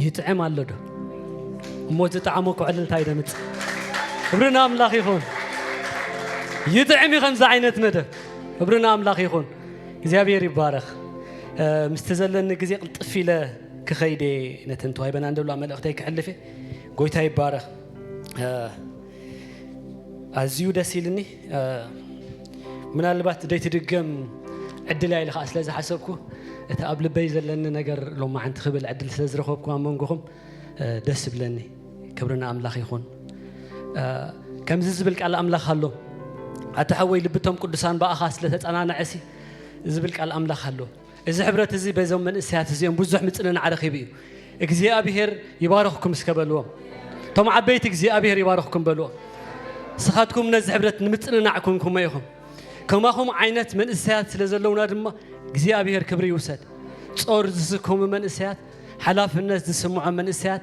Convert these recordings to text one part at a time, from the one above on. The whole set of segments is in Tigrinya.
ይጥዕም ኣሎ ዶ እሞ ዝጠዓሞ ኩዕልልታ ይደምፅ ክብርና ኣምላኽ ይኹን ይጥዕም እዩ ከምዚ ዓይነት መደብ ክብርና ኣምላኽ ይኹን እግዚኣብሔር ይባረኽ ምስቲ ዘለኒ ግዜ ቅልጥፍ ኢለ ክኸይደ ነተን ተዋሂበና እንደብላ መልእኽተይ ክሕልፍ ጎይታ ይባረኽ ኣዝዩ ደስ ኢልኒ ምናልባት ዘይትድገም ዕድል እያ ኢለ ከዓ ስለ ዝሓሰብኩ እቲ ኣብ ልበይ ዘለኒ ነገር ሎማዓንቲ ክብል ዕድል ስለ ዝረኸብኩ ኣብ መንጎኹም ደስ ይብለኒ ክብሪ ንኣምላኽ ይኹን ከምዚ ዝብል ቃል ኣምላኽ ኣሎ ኣታ ሓወይ ልብቶም ቅዱሳን ብኣኻ ስለ ተጸናንዐሲ ዝብል ቃል ኣምላኽ ኣሎ እዚ ሕብረት እዚ በዞም መንእሰያት እዚኦም ብዙሕ ምጽንናዕ ረኺቡ እዩ። እግዚኣብሄር ይባርኽኩም እስከ በልዎም። እቶም ዓበይቲ እግዚኣብሄር ይባርኽኩም በልዎም። ንስኻትኩም ነዚ ሕብረት ንምጽንናዕ ኩንኩሞ ኢኹም። ከማኹም ዓይነት መንእሰያት ስለ ዘለውና ድማ እግዚኣብሄር ክብሪ ይውሰድ። ጾር ዝስከሙ መንእሰያት፣ ሓላፍነት ዝስምዖም መንእሰያት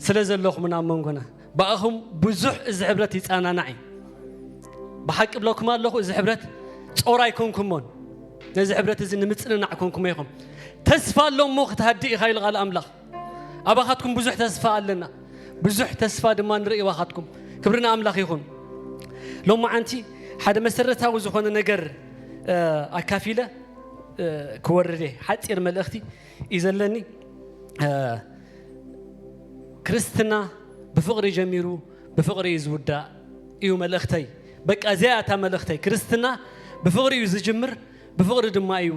ስለ ዘለኹምና ኣብ መንጎና ብኣኹም ብዙሕ እዚ ሕብረት ይጸናናዕ እዩ። ብሓቂ ብለኩም ኣለኹ እዚ ሕብረት ጾር ኣይኮንኩሞን ነዚ ሕብረት እዚ ንምጽንናዕ ኮንኩሞ ኢኹም። ተስፋ ኣሎ እሞ ክትሃድእ ኢኻ ኢሉ ቃል ኣምላኽ። ኣባኻትኩም ብዙሕ ተስፋ ኣለና፣ ብዙሕ ተስፋ ድማ ንርኢ ኣባኻትኩም። ክብሪ ንኣምላኽ ይኹን። ሎም መዓንቲ ሓደ መሰረታዊ ዝኾነ ነገር ኣካፊለ ክወርድ እየ። ሓፂር መልእኽቲ እዩ ዘለኒ ክርስትና ብፍቕሪ ጀሚሩ ብፍቕሪ እዩ ዝውዳእ እዩ መልእኽተይ በቃ እዚኣ እታ መልእኽተይ ክርስትና ብፍቕሪ እዩ ዝጅምር ብፍቕሪ ድማ እዩ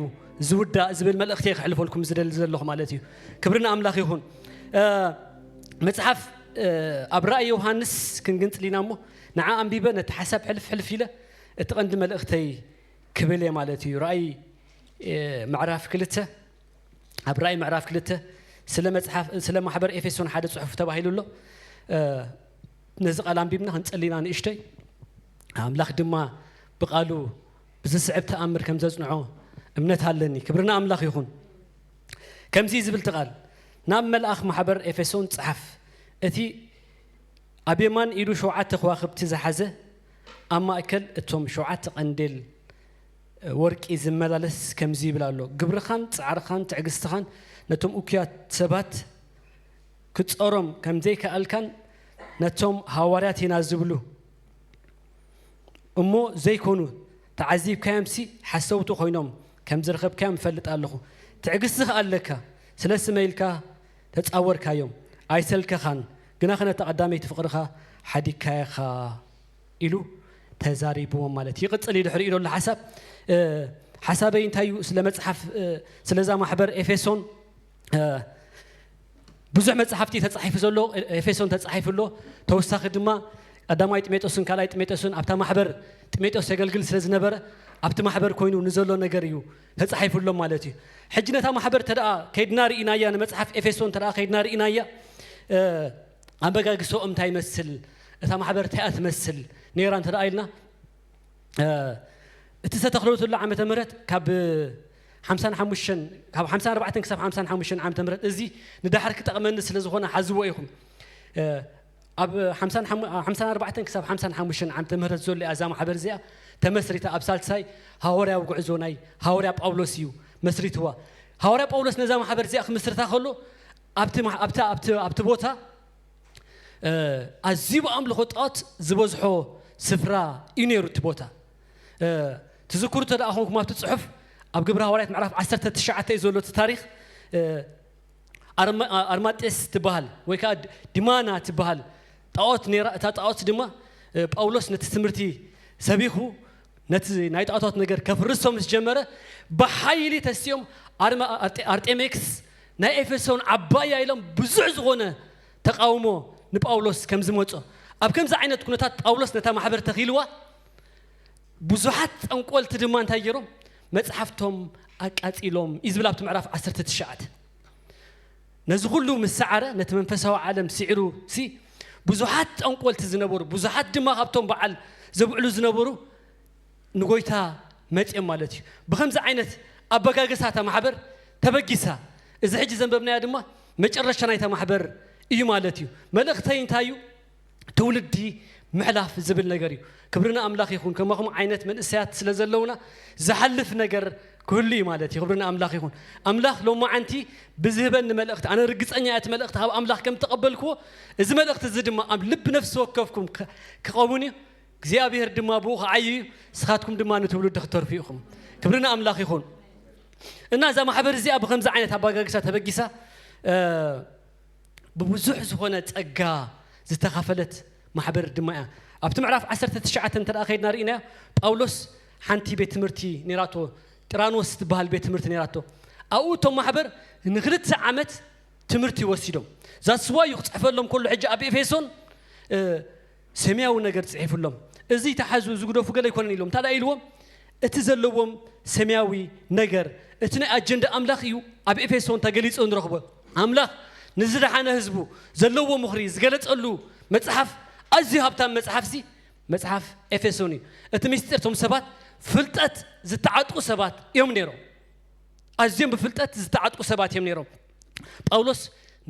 ዝውዳእ ዝብል መልእኽተይ ክሕልፈልኩም ዝደሊ ዘለኹ ማለት እዩ ክብርና ኣምላኽ ይኹን መፅሓፍ ኣብ ራእይ ዮሃንስ ክንግንፅል ኢና እሞ ንዓ ኣንቢበ ነቲ ሓሳብ ሕልፍ ሕልፍ ኢለ እቲ ቀንዲ መልእኽተይ ክብል እየ ማለት እዩ። ራእይ ምዕራፍ ክልተ ኣብ ራእይ ምዕራፍ ክልተ ስለ መጽሓፍ ስለ ማሕበር ኤፌሶን ሓደ ጽሑፍ ተባሂሉ ኣሎ። ነዚ ቃል ኣንቢብና ክንጸሊና ንእሽተይ ኣምላኽ ድማ ብቃሉ ብዝስዕብ ተኣምር ከም ዘጽንዖ እምነት ኣለኒ። ክብርና ኣምላኽ ይኹን። ከምዚ ዝብል ትቓል ናብ መልኣኽ ማሕበር ኤፌሶን ጸሓፍ እቲ ኣብ የማን ኢዱ ሸውዓተ ከዋኽብቲ ዝሓዘ ኣብ ማእከል እቶም ሸውዓተ ቀንዴል ወርቂ ዝመላለስ ከምዚ ይብል ኣሎ፣ ግብርኻን ጻዕርኻን ትዕግስትኻን ነቶም እኩያት ሰባት ክትጾሮም ከም ዘይከኣልካን ነቶም ሃዋርያት ኢና ዝብሉ እሞ ዘይኮኑ ተዓዚብካዮምሲ ሓሰውቲ ኮይኖም ከም ዝረኸብካዮም እፈልጥ ኣለኹ። ትዕግስቲ ከኣ ኣለካ፣ ስለ ስመይ ኢልካ ተጻወርካዮም ኣይሰልከኻን ግናኸ ነታ ቀዳመይቲ ፍቕርኻ ሓዲግካያ ኢኻ ኢሉ ተዛሪብዎም ማለት እዩ። ይቕጽል እዩ ድሕሪኡ ዘሎ ሓሳብ። ሓሳበይ እንታይ እዩ ስለ መጽሓፍ ስለዛ ማሕበር ኤፌሶን ብዙሕ መጽሓፍቲ ተጻሒፉ ዘሎ ኤፌሶን ተጻሒፉ ኣሎ ተወሳኺ ድማ ቀዳማይ ጥሜጦስን ካልኣይ ጥሜጦስን ኣብታ ማሕበር ጥሜጦስ የገልግል ስለ ዝነበረ ኣብቲ ማሕበር ኮይኑ ንዘሎ ነገር እዩ ተጻሒፉ ኣሎ ማለት እዩ። ሕጂ ነታ ማሕበር ተደኣ ከይድና ርኢናያ ንመጽሓፍ ኤፌሶን ተደኣ ከይድና ርኢናያ ኣበጋግሰኦም እንታይ ይመስል እታ ማሕበር እንታይ እያ ትመስል ነይራ እንተደኣ ኢልና እቲ ዝተተኽለትሉ ዓመተ ምህረት ካብ ሓምሳን ሓሙሽተን ካብ ሓምሳን ኣርባዕተን ክሳብ ሓምሳን ሓሙሽተን ዓመተ ምህረት እዚ ንዳሕር ክጠቕመኒ ስለ ዝኾነ ሓዝዎ ኢኹም ኣብ ሓምሳን ሓሙ ሓምሳን ኣርባዕተን ክሳብ ሓምሳን ሓሙሽተን ዓመተ ምህረት ዘሎ እያ እዛ ማሕበር እዚኣ ተመስሪታ ኣብ ሳልሳይ ሃዋርያዊ ጉዕዞ ናይ ሃዋርያ ጳውሎስ እዩ መስሪትዋ ሃዋርያ ጳውሎስ ነዛ ማሕበር እዚኣ ክምስርታ ከሎ ኣብቲ ማ- ኣብታ ኣብቲ ኣብቲ ቦታ እ፣ ኣዝዩ ብኣምልኾ ጣዖት ዝበዝሖ ስፍራ እዩ ነይሩ እቲ ቦታ እ፣ ትዝክሩ እንተ ደኣ ኾንኩም ኣብቲ ጽሑፍ ኣብ ግብረ ሃዋርያት ምዕራፍ 19 እዩ ዘሎ እቲ ታሪኽ እ፣ ኣርማ ኣርማጤስ ትበሃል ወይ ከኣ ዲማና ትበሃል ጣኦት ነይራ እታ ጣኦት ድማ ጳውሎስ ነቲ ትምህርቲ ሰቢኹ ነቲ ናይ ጣኦታት ነገር ከፍርሶ ምስ ጀመረ ብሓይሊ ተሲኦም ኣርማ ኣርጤሜክስ ናይ ኤፌሶን ዓባያ ኢሎም ብዙሕ ዝኾነ ተቃውሞ ንጳውሎስ ከም ዝመጾ ኣብ ከምዚ ዓይነት ኩነታት ጳውሎስ ነታ ማሕበር ተኺልዋ ብዙሓት ጠንቆልቲ ድማ እንታይ ገይሮም መጽሓፍቶም ኣቃጺሎም እዩ ዝብል ኣብቲ ምዕራፍ ዓሰርተ ትሽዓተ ነዚ ኩሉ ምስ ሰዓረ ነቲ መንፈሳዊ ዓለም ስዒሩ ሲ ብዙሓት ጠንቆልቲ ዝነበሩ ብዙሓት ድማ ካብቶም በዓል ዘብዕሉ ዝነበሩ ንጎይታ መጽኦም ማለት እዩ ብከምዚ ዓይነት ኣበጋግሳ እታ ማሕበር ተበጊሳ እዚ ሕጂ ዘንበብናዮ ድማ መጨረሻ ናይታ ማሕበር እዩ ማለት እዩ መልእኽተይ እንታይ እዩ ትውልዲ ምሕላፍ ዝብል ነገር እዩ ክብሪ ንኣምላኽ ይኹን ከማኹም ዓይነት መንእሰያት ስለ ዘለውና ዝሓልፍ ነገር ክህሉ እዩ ማለት እዩ ክብሪ ንኣምላኽ ይኹን ኣምላኽ ሎማዓንቲ ብዝህበኒ መልእኽቲ ኣነ ርግፀኛ እያ እቲ መልእኽቲ ካብ ኣምላኽ ከም ተቐበልክዎ እዚ መልእኽቲ እዚ ድማ ኣብ ልቢ ነፍሲ ወከፍኩም ክኸውን እዩ እግዚኣብሔር ድማ ብኡ ክዓዩ እዩ ንስኻትኩም ድማ ንትውልዲ ክተርፉ ኢኹም ክብሪ ንኣምላኽ ይኹን እና እዛ ማሕበር እዚኣ ብከምዚ ዓይነት ኣባጋግሳ ተበጊሳ ብብዙሕ ዝኾነ ጸጋ ዝተኻፈለት ማሕበር ድማ እያ። ኣብቲ ምዕራፍ ዓሰርተ ትሽዓተ እንተ ከይድና ርኢናዮ፣ ጳውሎስ ሓንቲ ቤት ትምህርቲ ነይራቶ፣ ጥራኖስ ትበሃል ቤት ትምህርቲ ነይራቶ። ኣብኡ እቶም ማሕበር ንክልተ ዓመት ትምህርቲ ወሲዶም። ዛስዋ እዩ ክጽሕፈሎም ከሎ ሕጂ ኣብ ኤፌሶን ሰማያዊ ነገር ጽሒፍሎም እዚ ተሓዙ ዝግደፉ ገለ ኣይኮነን ኢሎም እንታዳ ኢልዎም እቲ ዘለዎም ሰማያዊ ነገር እቲ ናይ ኣጀንዳ ኣምላኽ እዩ ኣብ ኤፌሶን ተገሊጹ ንረኽቦ ኣምላኽ ንዝደሓነ ህዝቡ ዘለዎ ምኽሪ ዝገለጸሉ መጽሓፍ ኣዝዩ ሃብታም መጽሓፍ ሲ መጽሓፍ ኤፌሶን እዩ እቲ ምስጢር እቶም ሰባት ፍልጠት ዝተዓጥቁ ሰባት እዮም ነይሮም ኣዝዮም ብፍልጠት ዝተዓጥቁ ሰባት እዮም ነይሮም ጳውሎስ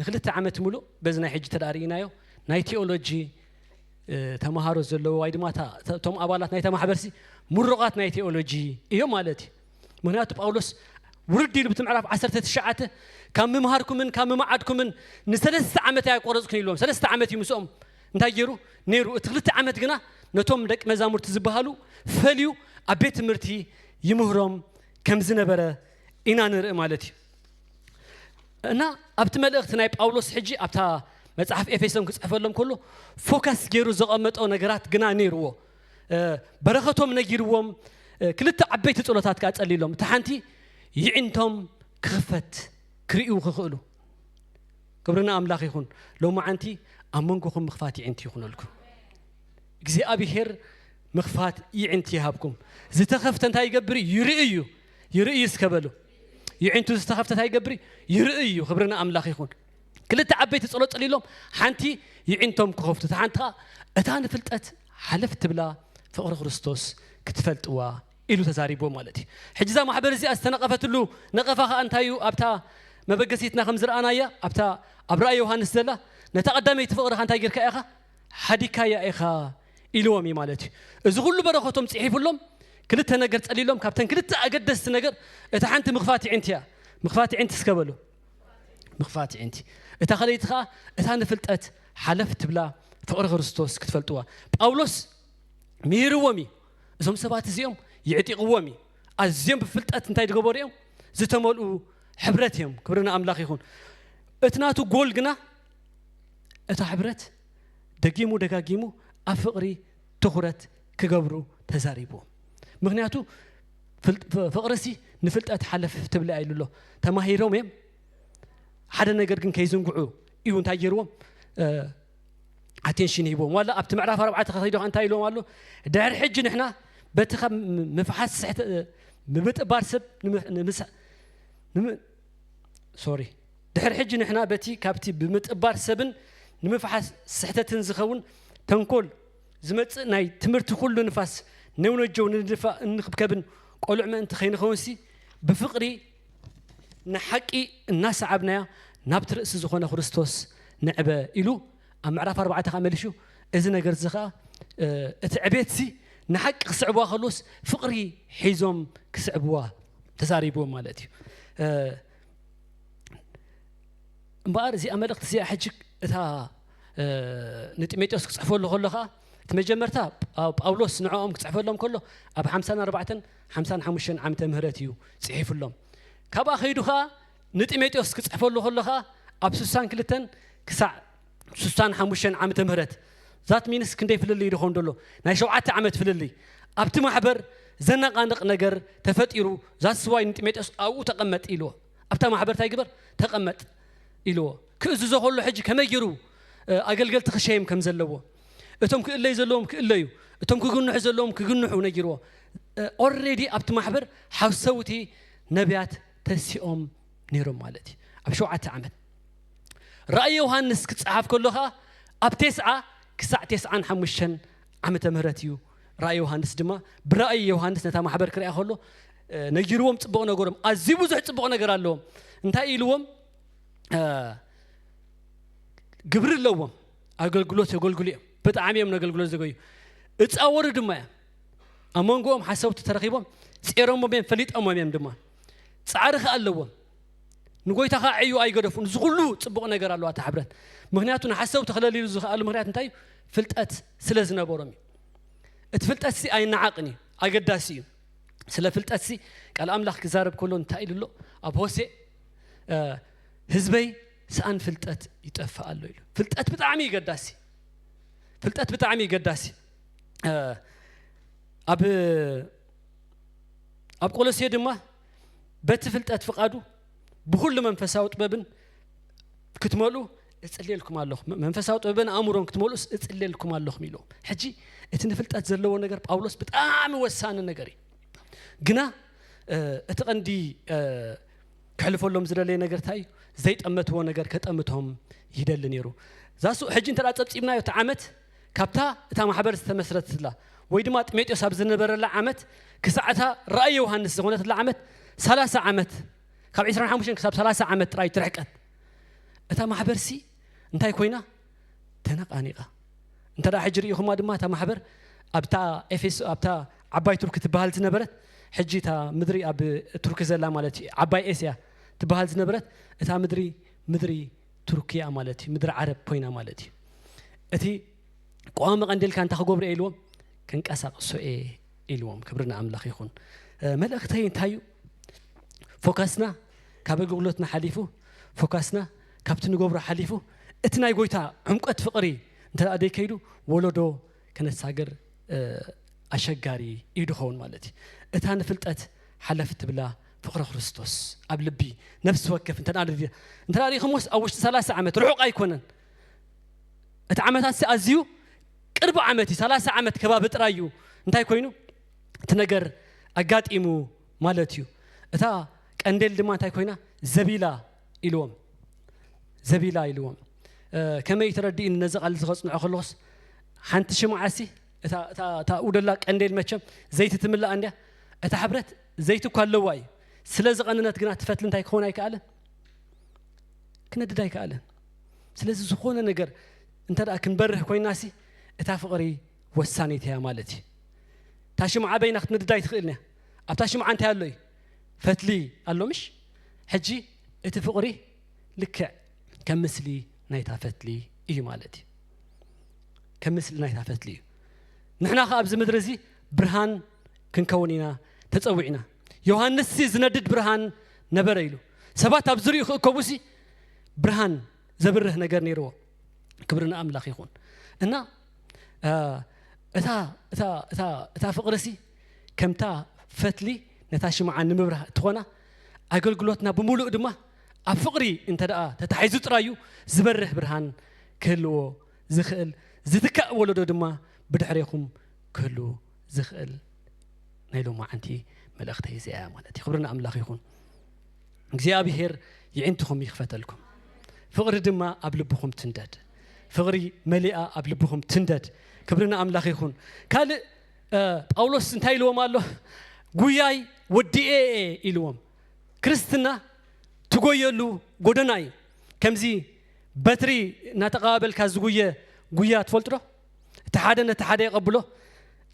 ንክልተ ዓመት ምሉእ በዚ ናይ ሕጂ ተዳ ርኢናዮ ናይ ቴኦሎጂ ተምሃሮ ዘለዎ ወይ ድማ እቶም ኣባላት ናይታ ማሕበርሲ ምሩቓት ናይ ቴኦሎጂ እዮም ማለት እዩ ምክንያቱ ጳውሎስ ውርድ ኢሉ ብቲ ምዕራፍ 19 ካብ ምምሃርኩምን ካብ ምምዓድኩምን ንሰለስተ ዓመት ኣያቆረፅኩን ኢሎም ሰለስተ ዓመት እዩ ምስኦም እንታይ ገይሩ ነይሩ እቲ ክልተ ዓመት ግና ነቶም ደቂ መዛሙርቲ ዝበሃሉ ፈልዩ ኣብ ቤት ትምህርቲ ይምህሮም ከም ዝነበረ ኢና ንርኢ ማለት እዩ እና ኣብቲ መልእኽቲ ናይ ጳውሎስ ሕጂ ኣብታ መጽሓፍ ኤፌሶን ክጽሕፈሎም ከሎ ፎከስ ገይሩ ዘቐመጦ ነገራት ግና ነይርዎ በረኸቶም ነጊርዎም ክልተ ዓበይቲ ጸሎታት ከዓ ጸሊሎም እታ ሓንቲ ይዒንቶም ክኽፈት ክርእዩ ክኽእሉ ክብርና ኣምላኽ ይኹን ሎሚ ዓንቲ ኣብ መንጎኹም ምኽፋት ይዒንቲ ይኹነልኩም እግዚኣብሄር ምኽፋት ይዒንቲ ይሃብኩም ዝተኸፍተ እንታይ ይገብር ይርእዩ ይርእዩ እስከበሉ የዒንቱ ዝተኸፍተት ኣይገብሪ ይርኢ እዩ ክብሪ ንኣምላኽ ይኹን ክልተ ዓበይቲ ጸሎት ጸሊሎም ሓንቲ ይዒንቶም ክኸፍቱ እታ ሓንቲ ኸዓ እታ ንፍልጠት ሓለፍ ትብላ ፍቕሪ ክርስቶስ ክትፈልጥዋ ኢሉ ተዛሪብዎ ማለት እዩ ሕጂ እዛ ማሕበር እዚኣ ዝተነቐፈትሉ ነቐፋ ከዓ እንታይ እዩ ኣብታ መበገሲትና ከም ዝረኣናያ ኣብታ ኣብ ራእይ ዮሃንስ ዘላ ነታ ቀዳመይቲ ፍቕርኻ እንታይ ጌርካ ኢኻ ሓዲካያ ኢኻ ኢልዎም እዩ ማለት እዩ እዚ ኩሉ በረከቶም ፂሒፍሎም ክልተ ነገር ፀሊሎም ካብተን ክልተ ኣገደስቲ ነገር እታ ሓንቲ ምክፋት ይዕንቲ እያ ምክፋት ይዕንቲ እስከ በሉ ምክፋት ይዕንቲ እታ ከለይቲ ከዓ እታ ንፍልጠት ሓለፍ ትብላ ፍቅሪ ክርስቶስ ክትፈልጥዋ ጳውሎስ ምሂርዎም እዩ እዞም ሰባት እዚኦም ይዕጢቕዎም እዩ ኣዝዮም ብፍልጠት እንታይ ዝገበሩ እዮም ዝተመልኡ ሕብረት እዮም ክብሪ ንኣምላኽ ይኹን እቲ ናቱ ጎል ግና እታ ሕብረት ደጊሙ ደጋጊሙ ኣብ ፍቕሪ ትኹረት ክገብሩ ተዛሪቡ። ምኽንያቱ ፍቕሪሲ ንፍልጠት ሓለፍ ትብለ እያ ኢሉ ኣሎ። ተማሂሮም እዮም ሓደ ነገር ግን ከይዝንግዑ እዩ እንታይ ገይርዎም ኣቴንሽን ሂቦም ዋላ ኣብቲ ምዕራፍ ኣርባዕተ ከኸይዶ እንታይ ኢሎም ኣሎ ድሕሪ ሕጂ ንሕና በቲ ካብ ምፍሓስ ስሕተ ምብጥባር ሰብ ሶሪ ድሕሪ ሕጂ ንሕና በቲ ካብቲ ብምጥባር ሰብን ንምፍሓስ ስሕተትን ዝኸውን ተንኮል ዝመጽእ ናይ ትምህርቲ ኩሉ ንፋስ ነውነጀው ንድፋእ እንክብከብን ቆልዕ ምእንቲ ከይንኸውንሲ ብፍቕሪ ንሓቂ እናሰዓብናያ ናብቲ ርእሲ ዝኾነ ክርስቶስ ንዕበ ኢሉ ኣብ ምዕራፍ ኣርባዕተ ኸኣ መሊሹ እዚ ነገር እዚ ኸኣ እቲ ዕቤትሲ ንሓቂ ክስዕብዋ ከለዎስ ፍቕሪ ሒዞም ክስዕብዋ ተዛሪብዎም ማለት እዩ እምበኣር እዚኣ መልእኽቲ እዚኣ ሕጂ እታ ንጢሞቴዎስ ክጽሕፈሉ ከሎ ኸኣ እቲ መጀመርታ ጳውሎስ ንዕኦም ክፅሕፈሎም ከሎ ኣብ ሓምሳን ኣርባዕተን ሓምሳን ሓሙሽተን ዓመተ ምህረት እዩ ፅሒፍሎም ካብኣ ከይዱ ከዓ ንጢሞቴዎስ ክጽሕፈሉ ከሎ ከኣ ኣብ ስሳን ክልተን ክሳዕ ስሳን ሓሙሽተን ዓመተ ምህረት ዛት ሚንስ ክንደይ ፍልልይ ድኾን ደሎ ናይ ሸውዓተ ዓመት ፍልልይ ኣብቲ ማሕበር ዘነቓንቕ ነገር ተፈጢሩ ዛትስ ዋይ ንጢሞቴዎስ ኣብኡ ተቐመጥ ኢልዎ ኣብታ ማሕበር እንታይ ግበር ተቐመጥ ኢልዎ ክእዝዞ ከሎ ሕጂ ከመይ ጌሩ ኣገልገልቲ ክሸየም ከም ዘለዎ እቶም ክእለዩ ዘለዎም ክእለዩ እቶም ክግንሑ ዘለዎም ክግንሑ ነጊርዎ ኦልሬዲ ኣብቲ ማሕበር ሓሰውቲ ነቢያት ተሲኦም ነይሮም ማለት እዩ ኣብ ሸውዓተ ዓመት ራእይ ዮሃንስ ክፀሓፍ ከሎ ከዓ ኣብ ቴስዓ ክሳዕ ቴስዓን ሓሙሽተን ዓመተ ምህረት እዩ ራእይ ዮሃንስ ድማ ብራእይ ዮሃንስ ነታ ማሕበር ክርያ ከሎ ነጊርዎም ፅቡቕ ነገሮም ኣዝዩ ብዙሕ ፅቡቕ ነገር ኣለዎም እንታይ ኢልዎም ግብሪ ኣለዎም ኣገልግሎት የገልግሉ እዮም ብጣዕሚ እዮም ነገልግሎት ዘገዩ እፃወሩ ድማ እዮም ኣብ መንጎኦም ሓሰውቲ ተረኺቦም ጼሮሞም እዮም ፈሊጠሞም እዮም ድማ ፃዕሪ ከዓ ኣለዎም ንጎይታ ከዓ ዕዩ ኣይገደፉን እዚ ኩሉ ፅቡቕ ነገር ኣለዋ እታ ሕብረት ምክንያቱ ንሓሰውቲ ክለልዩ ዝኽኣሉ ምክንያት እንታይ እዩ ፍልጠት ስለ ዝነበሮም እዩ እቲ ፍልጠት ሲ ኣይነዓቕን እዩ ኣገዳሲ እዩ ስለ ፍልጠት ሲ ቃል ኣምላኽ ክዛረብ ከሎ እንታይ ኢሉ ኣሎ ኣብ ሆሴ ህዝበይ ሰኣን ፍልጠት ይጠፍእ ኣሎ ኢሉ ፍልጠት ብጣዕሚ ይገዳሲ ፍልጠት ብጣዕሚ ይገዳሲ ኣብ ኣብ ቆሎሴ ድማ በቲ ፍልጠት ፍቃዱ ብኩሉ መንፈሳዊ ጥበብን ክትመልኡ እጽልየልኩም ኣለኹ መንፈሳዊ ጥበብን ኣእምሮን ክትመልኡ እጽልየልኩም ኣለኹ ኢሎም ሕጂ እቲ ንፍልጠት ዘለዎ ነገር ጳውሎስ ብጣዕሚ ወሳኒ ነገር እዩ ግና እቲ ቀንዲ ክሕልፈሎም ዝደለየ ነገር እንታይ እዩ ዘይጠመትዎ ነገር ከጠምቶም ይደሊ ነይሩ ዛሱ ሕጂ እንተ ጸብፂብናዮ እቲ ዓመት ካብታ እታ ማሕበር ዝተመስረትትላ ወይ ድማ ጢሞጤዎስ ኣብ ዝነበረላ ዓመት ክሳዕ እታ ራእይ ዮውሃንስ ዝኾነትላ ዓመት ሰላሳ ዓመት ካብ ዕስራን ሓሙሽተን ክሳብ ሰላሳ ዓመት ጥራይ ትርሕቀት እታ ማሕበርሲ እንታይ ኮይና ተነቓኒቓ እንተ ደኣ ሕጂ ርኢኹማ ድማ እታ ማሕበር ኣብታ ኤፌሶ ኣብታ ዓባይ ቱርኪ ትበሃል ዝነበረት ሕጂ እታ ምድሪ ኣብ ቱርኪ ዘላ ማለት እዩ ዓባይ ኤስያ ትበሃል ዝነበረት እታ ምድሪ ምድሪ ቱርኪያ ማለት እዩ ምድሪ ዓረብ ኮይና ማለት እዩ እቲ ቀዋሚ ቀንዴልካ እንታይ ክገብሩ እየ ኢልዎም ክንቀሳቅሶ እየ ኢልዎም ክብሪ ንኣምላኽ ይኹን መልእኽተይ እንታይ እዩ ፎካስና ካብ ኣገልግሎትና ሓሊፉ ፎካስና ካብቲ ንገብሮ ሓሊፉ እቲ ናይ ጎይታ ዕምቀት ፍቕሪ እንተ ደይከይዱ ወለዶ ከነሳግር ኣሸጋሪ እዩ ድኸውን ማለት እዩ። እታ ንፍልጠት ሓለፍ እትብላ ፍቕሪ ክርስቶስ ኣብ ልቢ ነፍሲ ወከፍ እንተ እንተ ሪኢኹምስ ኣብ ውሽጢ ሰላሳ ዓመት ርሑቕ ኣይኮነን እቲ ዓመታት ሲ ኣዝዩ ቅርቢ ዓመት እዩ ሰላሳ ዓመት ከባቢ ጥራይ እዩ እንታይ ኮይኑ እቲ ነገር ኣጋጢሙ ማለት እዩ እታ ቀንዴል ድማ እንታይ ኮይና ዘቢላ ኢልዎም ዘቢላ ኢልዎም ከመይ ተረዲእኒ ነዚ ቃል እዚ ከጽንዖ ከለኹስ ሓንቲ ሽምዓሲ እታ ውደላ ቀንዴል መቸም ዘይቲ ትምላእ እንድያ እታ ሕብረት ዘይቲ እኳ ኣለዋ እዩ ስለ ዝቐነነት ግና ትፈትሊ እንታይ ክኾን ኣይከኣለን ክነድድ ኣይከኣለን ስለዚ ዝኾነ ነገር እንተ ደኣ ክንበርህ ኮይናሲ እታ ፍቕሪ ወሳኒት እያ ማለት እዩ እታ ሽምዓ በይና ክትነድድ ኣይትኽእልን እያ ኣብታ ሽምዓ እንታይ ኣሎ እዩ ፈትሊ ኣሎ ምሽ ሕጂ እቲ ፍቅሪ ልክዕ ከም ምስሊ ናይታ ፈትሊ እዩ ማለት እዩ ከም ምስሊ ናይታ ፈትሊ እዩ ንሕና ከ ኣብዚ ምድሪ እዚ ብርሃን ክንከውን ኢና ተጸዊዕና ዮሃንስ ሲ ዝነድድ ብርሃን ነበረ ኢሉ ሰባት ኣብ ዝሪኡ ክእከቡ ሲ ብርሃን ዘብርህ ነገር ነይርዎ ክብሪ ንኣምላኽ ይኹን እና እታ እታ እታ እታ ፍቅሪ ሲ ከምታ ፈትሊ ነታ ሽምዓ ንምብራህ እትኾና፣ ኣገልግሎትና ብምሉኡ ድማ ኣብ ፍቕሪ እንተድኣ ተታሒዙ ጥራይ'ዩ ዝበርህ ብርሃን ክህልዎ ዝኽእል፣ ዝትካእ ወለዶ ድማ ብድሕሬኹም ክህሉ ዝኽእል ናይ ሎማዓንቲ መልእኽተይ እዚኣ'ያ ማለት'ዩ። ክብሪ ንኣምላኽ ይኹን። እግዚኣብሄር ይዒንትኹም ይኽፈተልኩም። ፍቕሪ ድማ ኣብ ልብኹም ትንደድ። ፍቕሪ መሊኣ ኣብ ልብኹም ትንደድ። ክብሪ ንኣምላኽ ይኹን። ካልእ ጳውሎስ እንታይ ኢልዎም ኣሎ? ጉያይ ወዲኤ እየ ኢልዎም። ክርስትና ትጎየሉ ጎደና እዩ። ከምዚ በትሪ እናተቐባበልካ ዝጉየ ጉያ ትፈልጡ ዶ? እቲ ሓደ ነቲ ሓደ የቐብሎ፣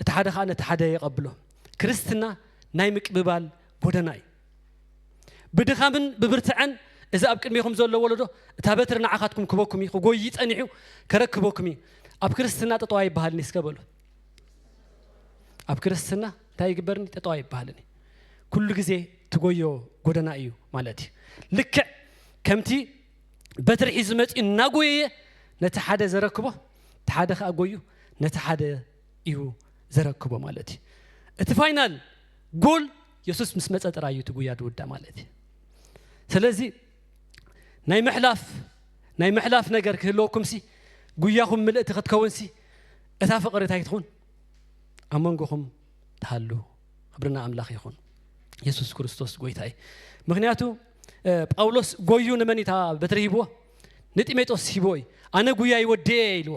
እቲ ሓደ ከዓ ነቲ ሓደ የቐብሎ። ክርስትና ናይ ምቅብባል ጎደና እዩ። ብድኻምን ብብርትዐን እዚ ኣብ ቅድሜኹም ዘሎ ወለዶ እታ በትሪ ንዓኻትኩም ክበኩም እዩ፣ ክጎይ ጸኒሑ ከረክበኩም እዩ። ኣብ ክርስትና ጠጠዋ ይበሃልኒ እስከ በሉ። ኣብ ክርስትና እንታይ ይግበርኒ ጠጠዋ ይበሃልን እዩ ኩሉ ግዜ ትጎዮ ጎደና እዩ ማለት እዩ ልክዕ ከምቲ በትሪ ሒዙ መፂኡ እናጎየየ ነቲ ሓደ ዘረክቦ እቲ ሓደ ከዓ ጎዩ ነቲ ሓደ እዩ ዘረክቦ ማለት እዩ እቲ ፋይናል ጎል የሱስ ምስ መፀ ጥራይ እዩ እቲ ጉያ ድውዳ ማለት እዩ ስለዚ ናይ ምሕላፍ ናይ ምሕላፍ ነገር ክህልወኩምሲ ጉያኹም ምልእቲ ክትከውንሲ እታ ፍቕሪ እንታይ ትኹን ኣብ መንጎኹም ትሃሉ ክብርና ኣምላኽ ይኹን የሱስ ክርስቶስ ጎይታ እዩ ምክንያቱ ጳውሎስ ጎዩ ንመን እታ በትሪ ሂብዎ ንጢሜጦስ ሂብዎ እዩ ኣነ ጉያይ ወድኤ ኢልዎ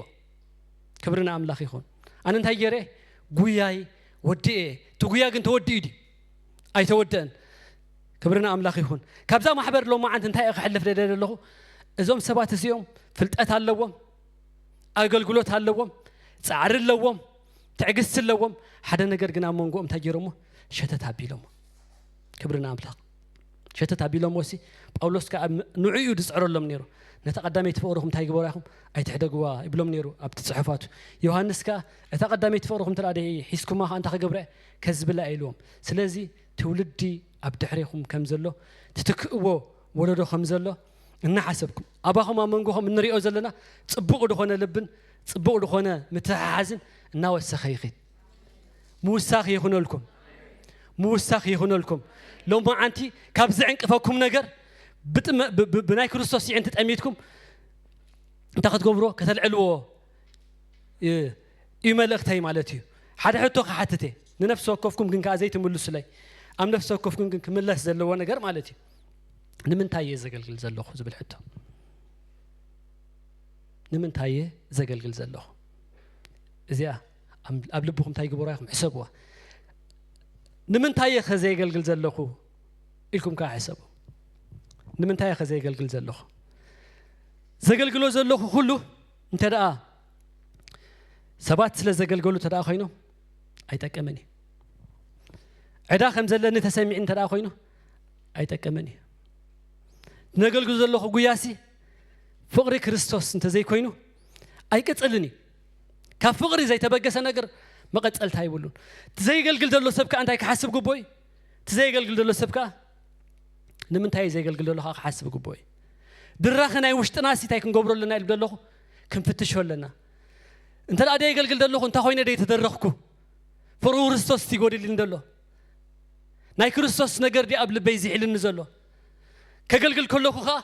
ክብሪ ንኣምላኽ ይኹን ኣነ እንታይ ገይረ ጉያይ ወድኤ እቲ ጉያ ግን ተወዲኡ ድዩ ኣይተወደእን ክብሪ ንኣምላኽ ይኹን ካብዛ ማሕበር ሎማዓንቲ እንታይ እየ ክሕልፍ ደለ ዘለኹ እዞም ሰባት እዚኦም ፍልጠት ኣለዎም ኣገልግሎት ኣለዎም ፃዕሪ ኣለዎም ትዕግስቲ ኣለዎም ሓደ ነገር ግን ኣብ መንጎኦም እንታይ ገይሮሞ ሸተት ኣቢሎሞ ክብሪ ንኣምላኽ ሸተት ኣቢሎሞ ሲ ጳውሎስ ከዓ ንዑ እዩ ዝፅዕረሎም ነይሩ ነታ ቀዳመይቲ ፍቕርኹም እንታይ ግበሩ ይኹም ኣይትሕደግዋ ይብሎም ነይሩ ኣብቲ ፅሑፋቱ ዮሃንስ ከዓ እታ ቀዳመይቲ ፍቕርኹም ትርኣ ደ ሒዝኩማ ከዓ እንታይ ክገብረ ከዝብላ ኢልዎም ስለዚ ትውልዲ ኣብ ድሕሬኹም ከምዘሎ ትትክእዎ ወለዶ ከምዘሎ እናሓሰብኩም ኣባኹም ኣብ መንጎኹም እንሪኦ ዘለና ፅቡቕ ዝኾነ ልብን ፅቡቕ ዝኾነ ምትሕሓዝን እናወሰኸ ይኽድ ምውሳኽ ይኹነልኩም ምውሳኽ ይኹነልኩም ሎማዓንቲ ካብ ዝዕንቅፈኩም ነገር ብናይ ክርስቶስ ይዕንቲ ጠሚትኩም እንታይ ክትገብርዎ ከተልዕልዎ እዩ መልእኽተይ ማለት እዩ። ሓደ ሕቶ ክሓትት እየ ንነፍሲ ወከፍኩም ግን ከኣ ዘይትምልሱለይ ኣብ ነፍሲ ወከፍኩም ግን ክምለስ ዘለዎ ነገር ማለት እዩ ንምንታይ እየ ዘገልግል ዘለኹ ዝብል ሕቶ ንምንታይ እየ ዘገልግል ዘለኹ እዚኣ ኣብ ልብኹም እንታይ ግበሩ ይኹም ሕሰብዋ ንምንታይ እየ ከ ዘየገልግል ዘለኹ ኢልኩም ከዓ ሕሰቡ ንምንታይ እየ ከ ዘየገልግል ዘለኹ ዘገልግሎ ዘለኹ ኩሉ እንተ ደኣ ሰባት ስለ ዘገልገሉ እንተ ደኣ ኾይኖም ኣይጠቅምን እዩ። ዕዳ ከም ዘለኒ ተሰሚዑ እንተ ደኣ ኾይኑ ኣይጠቅምን እዩ። ነገልግል ዘለኹ ጉያሲ ፍቕሪ ክርስቶስ እንተ ዘይኮይኑ ኣይቅጽልን እዩ። ካብ ፍቕሪ ዘይተበገሰ ነገር መቐጸልታ ይብሉን። እቲ ዘየገልግል ዘሎ ሰብ ከዓ እንታይ ክሓስብ ግቦ እዩ? እቲ ዘየገልግል ዘሎ ሰብ ከዓ ንምንታይ እዩ ዘየገልግል ዘሎ ከዓ ክሓስብ ግቦ እዩ። ድራኺ ናይ ውሽጥናሲ እንታይ ክንገብሮ ኣለና ኢሉ ደለኹ ክንፍትሾ ኣለና እንተ ደኣ ደየገልግል ዘለኹ እንታይ ኮይነ ደይተደረኽኩ ፍርሁ ክርስቶስ እቲ ጎዲልኒ ዘሎ ናይ ክርስቶስ ነገር ዲ ኣብ ልበይ ዝሒልኒ ዘሎ ከገልግል ከለኹ ከዓ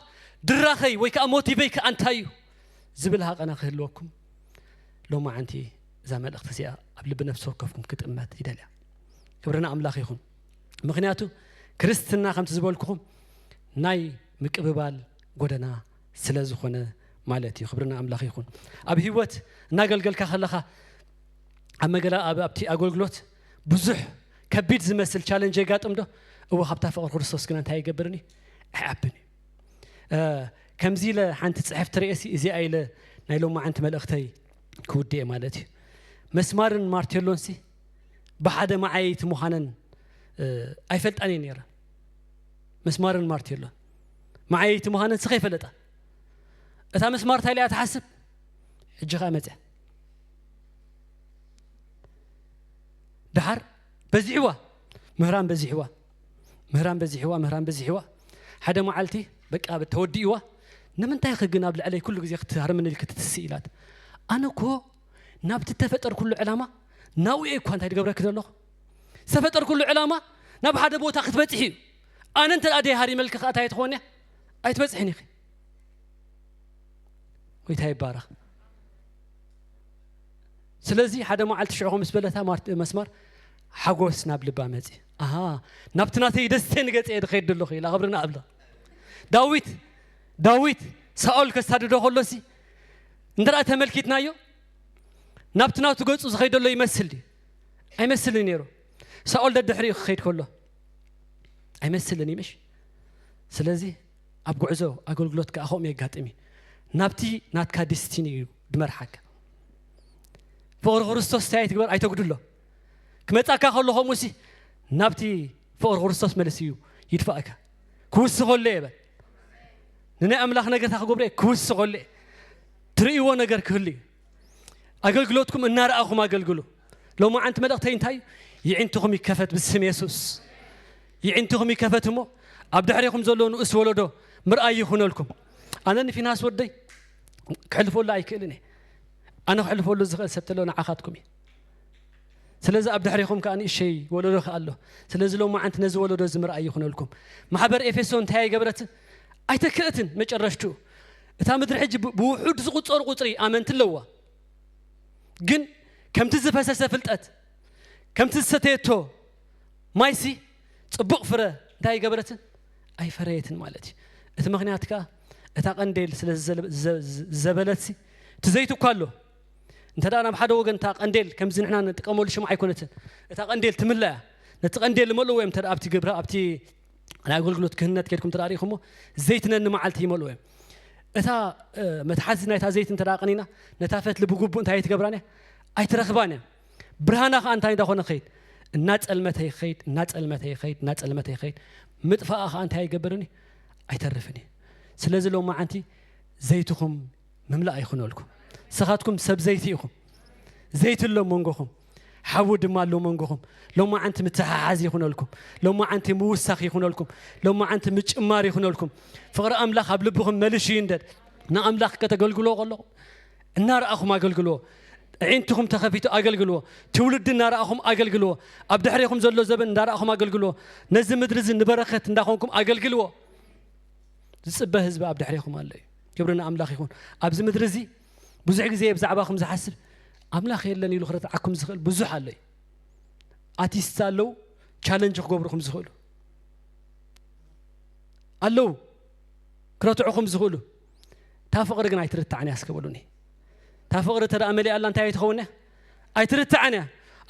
ድራኸይ ወይ ከዓ ሞቲቨይ ከዓ እንታይ እዩ ዝብል ሃቐና ክህልወኩም ሎማዓንቲ እዛ መልእኽቲ እዚኣ ኣብ ልቢ ነፍሲ ወከፍኩም ክጥመት ይደልያ ክብርና ኣምላኽ ይኹን ምክንያቱ ክርስትና ከምቲ ዝበልኩኹም ናይ ምቅብባል ጎደና ስለዝኾነ ማለት እዩ ክብርና ኣምላኽ ይኹን ኣብ ህይወት እናገልገልካ ከለኻ ኣብ መገላ ኣብቲ ኣገልግሎት ብዙሕ ከቢድ ዝመስል ቻለንጅ የጋጥም ዶ እወ ካብታ ፍቕሪ ክርስቶስ ግና እንታይ ይገብርን እዩ ኣይዓብን እዩ ከምዚ ኢለ ሓንቲ ፅሕፍ ትርእሲ እዚኣ ኢለ ናይ ሎማዓንቲ መልእኽተይ ክውድኤ ማለት እዩ መስማርን ማርቴሎን ሲ ብሓደ መዓየይቲ ምዃነን ኣይፈልጣን እየ ነይረ መስማርን ማርቴሎን መዓየይቲ ምዃነን ስኸ ይፈለጣ እታ ምስማር እንታይ ኢያ ትሓስብ ሕጂ ከዓ መፅያ ድሓር በዚሕዋ ምህራን በዚሕዋ ምህራን በዚሕዋ ምህራን በዚሕዋ ሓደ መዓልቲ በቃ ተወዲእዋ ንምንታይ ኸ ግን ኣብ ልዕለይ ኩሉ ግዜ ክትሃርምኒ ኢልክ ትትስእ ኢላት ኣነ እኮ ናብቲ ተፈጠር ኩሉ ዕላማ ናብኡ እኳ እንታይ ትገብረኪ ዘለኹ ዝተፈጠር ኩሉ ዕላማ ናብ ሓደ ቦታ ክትበፅሒ እዩ ኣነ እንተ ደኣ ደይሃሪመልኪ ከኣ እንታይ ትኾኒ ኣይትበጽሕን ኢኺ ጎይታ ይባረኽ ስለዚ ሓደ መዓልቲ ሽዑ ከምስ በለታ መስመር ሓጎስ ናብ ልባ መፅ ኣሃ ናብቲ ናተይ ደስተ ንገፀ ድኸይድ ኣለኹ ኢላ ክብርና ኣብላ ዳዊት ዳዊት ሳኦል ከሳድዶ ከሎሲ እንተ ተመልኪትናዮ ናብቲ ናቱ ገፁ ዝኸይደሎ ይመስል ድዩ ኣይመስልን ነይሩ ሳኦል ደድሕሪኡ ክኸይድ ከሎ ኣይመስልን እዩ ምሽ ስለዚ ኣብ ጉዕዞ ኣገልግሎት ከዓ ከምኡ የጋጥም እዩ ናብቲ ናትካ ዲስቲኒ እዩ ድመርሓካ ፍቕሪ ክርስቶስ እንታይ ኣይትግበር ኣይተጉድሎ ክመፃካ ከሎ ከምኡ ሲ ናብቲ ፍቕሪ ክርስቶስ መልሲ እዩ ይድፋእካ ክውስ ከሎ እየ በል ንናይ ኣምላኽ ነገርታ ክገብሮ እየ ክውስ ከሎ እየ ትርእይዎ ነገር ክህሉ እዩ ኣገልግሎትኩም እናረኣኹም ኣገልግሉ ሎማዓንቲ መልእኽተይ እንታይ እዩ? ይዒንትኹም ይከፈት ብስም የሱስ። ይዒንትኹም ይከፈት እሞ ኣብ ድሕሬኹም ዘሎ ንኡስ ወለዶ ምርኣይ ይኹነልኩም። ኣነ ንፊናስ ወደይ ክሕልፈሉ ኣይክእልን እየ። ኣነ ክሕልፈሉ ዝኽእል ሰብ ተሎ ንዓኻትኩም እዩ። ስለዚ ኣብ ድሕሬኹም ከዓ ንእሸይ ወለዶ ከዓ ኣሎ። ስለዚ ሎማዓንቲ ነዚ ወለዶ እዚ ምርኣይ ይኹነልኩም። ማሕበር ኤፌሶ እንታይ ኣይገበረት? ኣይተክእትን መጨረሽትኡ እታ ምድሪ ሕጂ ብውሑድ ዝቑጸሩ ቁጽሪ ኣመንቲ ኣለዋ። ግን ከምቲ ዝፈሰሰ ፍልጠት ከምቲ ዝሰተየቶ ማይሲ ጽቡቕ ፍረ እንታይ ኣይገበረትን ኣይፈረየትን ማለት እዩ እቲ ምክንያት ከዓ እታ ቀንዴል ስለ ዝዘበለትሲ እቲ ዘይቱ እኳ ኣሎ እንተ ደኣ ናብ ሓደ ወገን እታ ቀንዴል ከምዚ ንሕና ንጥቀመሉ ሽምዓ ኣይኮነትን እታ ቀንዴል ትምለያ ነቲ ቀንዴል ዝመልእዎ እዮም እተ ኣብቲ ግብረ ኣብቲ ናይ ኣገልግሎት ክህነት ከድኩም እንተ ሪኢኹሞ ዘይቲ ነንመዓልቲ ይመልኡ እዮም እታ መትሓዚ ናይታ ዘይቲ እንተ ቀኒና ነታ ፈትሊ ብግቡእ እንታይ ኣይትገብራን እያ ኣይትረኽባን እያ ብርሃና ከዓ እንታይ እንዳኾነ ኸይድ እናፀልመተ ይኸይድ እናፀልመተ ይኸይድ እናፀልመተ ይኸይድ ምጥፋኣ ከዓ እንታይ ኣይገብርን እዩ ኣይተርፍን እዩ ስለዚ ሎም መዓንቲ ዘይትኹም ምምላእ ይኹነልኩም ንስኻትኩም ሰብ ዘይቲ ኢኹም ዘይቲ ኣሎ መንጎኹም ሓዊ ድማ ኣሎ መንጎኹም ሎማዓንቲ ምትሓሓዝ ይኹነልኩም ሎማዓንቲ ምውሳኽ ይኹነልኩም ሎማዓንቲ ምጭማር ይኹነልኩም ፍቕሪ ኣምላኽ ኣብ ልብኹም መልሹ ይንደድ ንኣምላኽ ከተገልግሎ ከለኹም እናረኣኹም ኣገልግልዎ ዒንትኹም ተኸፊቱ ኣገልግልዎ ትውልዲ እናረኣኹም ኣገልግልዎ ኣብ ድሕሬኹም ዘሎ ዘበን እንዳረኣኹም ኣገልግልዎ ነዚ ምድሪ እዚ ንበረኸት እንዳኾንኩም ኣገልግልዎ ዝፅበ ህዝቢ ኣብ ድሕሬኹም ኣሎ እዩ ክብሪ ንኣምላኽ ይኹን ኣብዚ ምድሪ እዚ ብዙሕ ግዜ ብዛዕባኹም ዝሓስብ ኣምላኽ የለን ኢሉ ክረትዓኩም ዝኽእል ብዙሕ ኣሎ እዩ ኣቲስት ኣለው ቻለንጅ ክገብሩኹም ዝኽእሉ ኣለው ክረትዑኹም ዝኽእሉ እታ ፍቕሪ ግን ኣይትርትዓን እያ እስከበሉኒ እታ ፍቕሪ ተደኣ መሊኣ ኣላ እንታይ ኣይትኸውን እያ ኣይትርትዓን እያ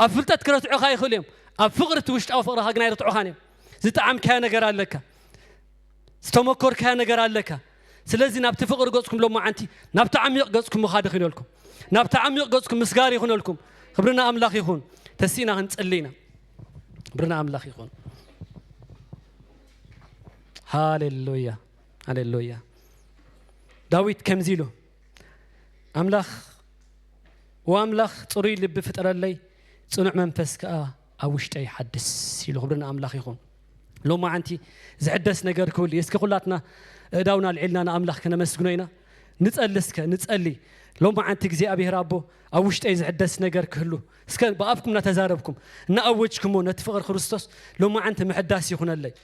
ኣብ ፍልጠት ክረትዑኻ ይኽእሉ እዮም ኣብ ፍቕሪ እቲ ውሽጣዊ ፍቕርኻ ግን ኣይርትዑኻን እዮም ዝጠዓምካዮ ነገር ኣለካ ዝተመኮርካዮ ነገር ኣለካ ስለዚ ናብቲ ፍቕሪ ገጽኩም ሎማዓንቲ ናብቲ ዓሚቕ ገጽኩም ምኻድ ይኹነልኩም ናብቲ ዓሚቕ ገጽኩም ምስጋር ይኹነልኩም ክብርና ኣምላኽ ይኹን ተሲእና ክንጽሊ ኢና ክብርና ኣምላኽ ይኹን ሃሌሉያ ሃሌሉያ ዳዊት ከምዚ ኢሉ ኣምላኽ ወኣምላኽ ፅሩይ ልቢ ፍጠረለይ ፅኑዕ መንፈስ ከዓ ኣብ ውሽጠይ ይሓድስ ኢሉ። ክብሪ ንኣምላኽ ይኹን። ሎማዓንቲ ዝሕደስ ነገር ክህሉ እዩ። እስኪ ኩላትና እእዳውና ኣልዒልና ንኣምላኽ ከነመስግኖ ኢና። ንጸሊ እስከ ንጸሊ ሎማዓንቲ እግዚኣብሔር ኣቦ ኣብ ውሽጠይ ዝሕደስ ነገር ክህሉ እስከ ብኣፍኩም እናተዛረብኩም እናኣወጅኩሞ ነቲ ፍቕሪ ክርስቶስ ሎማዓንቲ ምሕዳስ ይኹነለይ።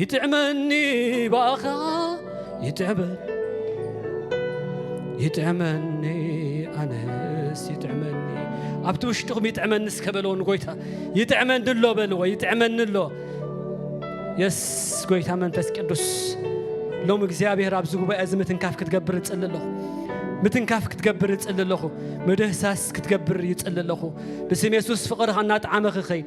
ይጥዕመኒ ብኣኻ ይጥዕበል ይጥዕመኒ ኣነስ ይጥዕመኒ ኣብቲ ውሽጥኹም ይጥዕመኒ እስከ በለዎ ንጎይታ ይጥዕመኒ ኣሎ በልዎ ይጥዕመኒ ኣሎ የስ ጎይታ መንፈስ ቅዱስ ሎም እግዚኣብሔር ኣብዚ ጉባኤ እዚ ምትንካፍ ክትገብር እፅሊ ኣለኹ ምትንካፍ ክትገብር እፅሊ ኣለኹ ምድህሳስ ክትገብር ይፅሊ ኣለኹ ብስም የሱስ ፍቕርኻ እናጠዓመ ክኸይድ